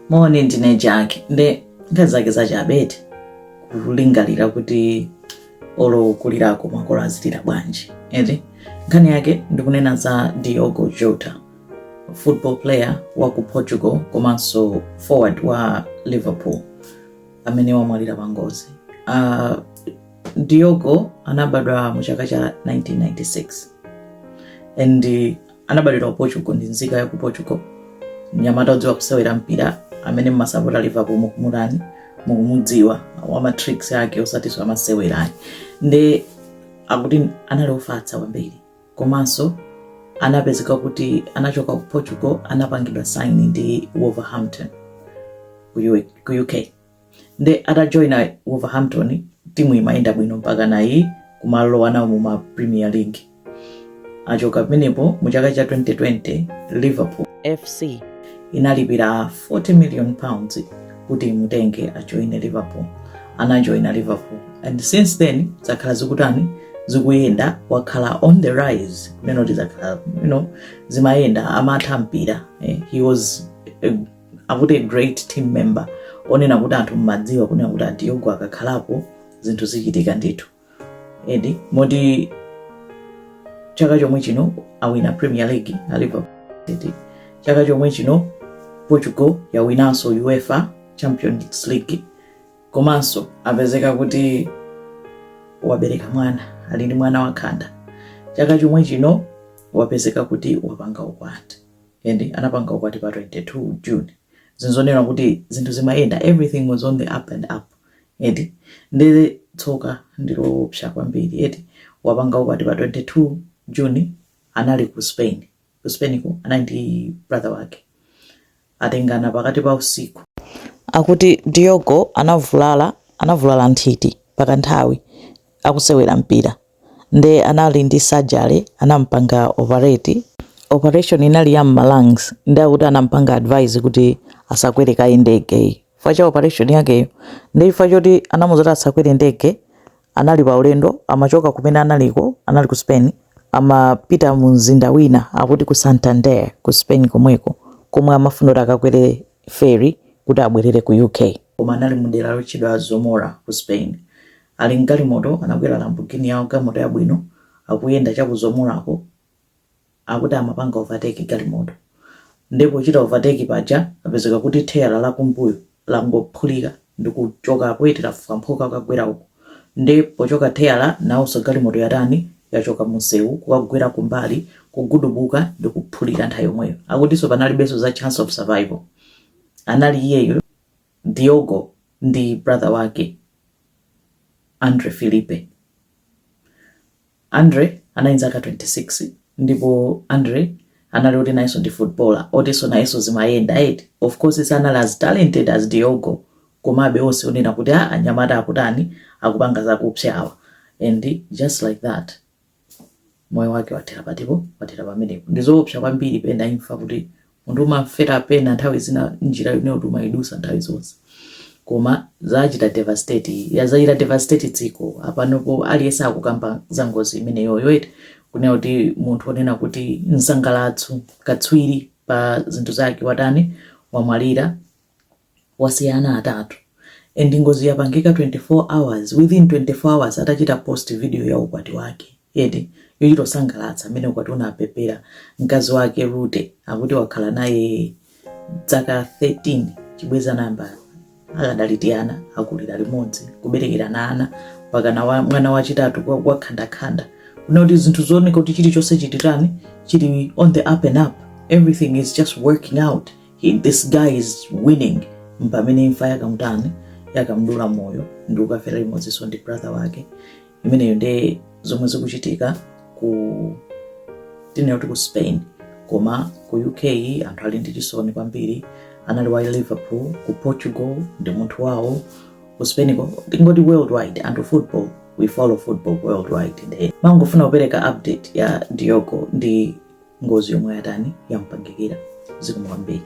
moni ndine jaki nde nkhani zake zachabe eti kulingalira kuti olo kulirako makolo azilira bwanji eti nkhani yake ndikunena za diogo jota football player wa ku portugal komanso forward wa liverpool amene wamwalira pa ngozi uh, diogo anabadwa mu chaka cha 1996 and Anabadwira ku Portugal ndi nzika ya ku Portugal. Mnyamata odziwa kusewera mpira amene mumasapota Liverpool mukumutani mukumudziwa wa ma tricks ake osati zamasewera ayi. Nde akuti anali ofatsa kwambiri komanso anapezeka kuti anachoka ku Portugal anapangidwa sign ndi Wolverhampton ku U- ku UK. nde atajoina wolverhampton timu imayenda bwino mpaka nayo kumalowa nawo mu ma premier league achoka pamenepo mu chaka cha 2020 liverpool fc inalipira 40 million pounds kuti imutenge ajoine liverpool anajoina liverpool and since then zakhala zikutani zikuyenda wakhala on the rise nenoti zakhala you know zimayenda amatha mpira eh, he was a akuti a great team member onena kuti anthu amadziwa kunena kuti a diogo akakhalapo zinthu zichitika ndithu eti moti chaka chomwe chino awina premier league a liverpool eti chaka chomwe chino portugal yawinanso uefa champions league komanso apezeka kuti wabereka mwana ali ndi mwana wakhanda chaka chomwe chino wapezeka kuti wapanga ukwati and anapanga ukwati pa 22 June zikuoneka kuti zinthu zimayenda everything was on the up and up eti ndiye tsoka ndiloopsa kwambiri eti wapanga ukwati pa 22 June anali ku Spain ku Spain ko anali ndi brother wake atengana pakati pa usiku akuti Diogo anavulala anavulala nthiti pakanthawi akusewera mpira nde anali ndi surgery anamupanga operate, operation inali ya mma lungs nde akuti anamupanga advise kuti asakwere kaye ndege yi chifukwa cha operation yakeyo nde chifukwa choti anamuuza kuti asakwere ndege anali pa ulendo amachoka kumene analiko anali ku Spain amapita mu mzinda wina akuti ku Santander ku Spain komweko komwe amafuna kuti akakwere ferry kuti abwerere ku UK koma anali mu dera lotchedwa Zamora ku Spain Ali m'galimoto, anakwera Lamborghini yawo, galimoto yabwino, akuyenda cha ku Zamorako, akuti amapanga overtake galimoto. Ndiye pochita overtake paja, papezeka kuti tayala la kumbuyo langophulika ndikuchokapo, eti lafwamphuka kukagwera uko. Ndiye pochoka tayala, nawonso galimoto yatani, yachoka munsewu kukagwera kumbali, kugudubuka ndikuphulika nthawi yomweyo. Akutinso panalibenso za chance of survival. Anali iyeyo. Diogo ndi brother wake, Andre Filipe. Andre anali ndi zaka 26 ndipo Andre anali oti nayenso ndi footballer otinso nayenso zimayenda eti. Of course sanali as talented as Diogo komabe onse onena kuti a anyamata akutani akupanga zakupsyawa and just like that. moyo wake wathera patipo wathera pamenepo ndi zoopsa kwambiri pena imfa kuti munthu umafera pena nthawi zina njira yomwe kuti umayidusa nthawi zonse koma zachita devastate ya zachita devastate dziko apanopo aliyense akukamba za ngozi imeneyoyo eti kunena kuti munthu onena kuti msangalatso katswiri pa zinthu zake watani wamwalira wasiya ana atatu and ngozi yapangika 24 hours within 24 hours atachita post video ya ukwati wake eti yochita kusangalatsa mmene ukwati unabebera mkazi wake Rute akuti wakhala naye dzaka 13 chibwenzi nayamba akadali tiana akulira limodzi kuberekerana ana mpakana wa, mwana wachitatu kwa- wakhandakhanda kuna kuti zinthu zooneka kuti chilichonse chititani chili on the up and up everything is just working out He, this guy is winning mpamene imfa yakamutani yakamdula moyo ndi kukafera limodzinso ndi brother wake imeneyo nde zomwe zikuchitika ku tinena kuti ku spain koma ku uk anthu ali ndi chisoni kwambiri anali wa liverpool ku portugal ndi munthu wawo ku spainko tingoti worldwide anthu football we follow football worldwide nde ndimangofuna kupereka update ya diogo ndi ngozi yomwe yatani yampangikira zikomo kwambiri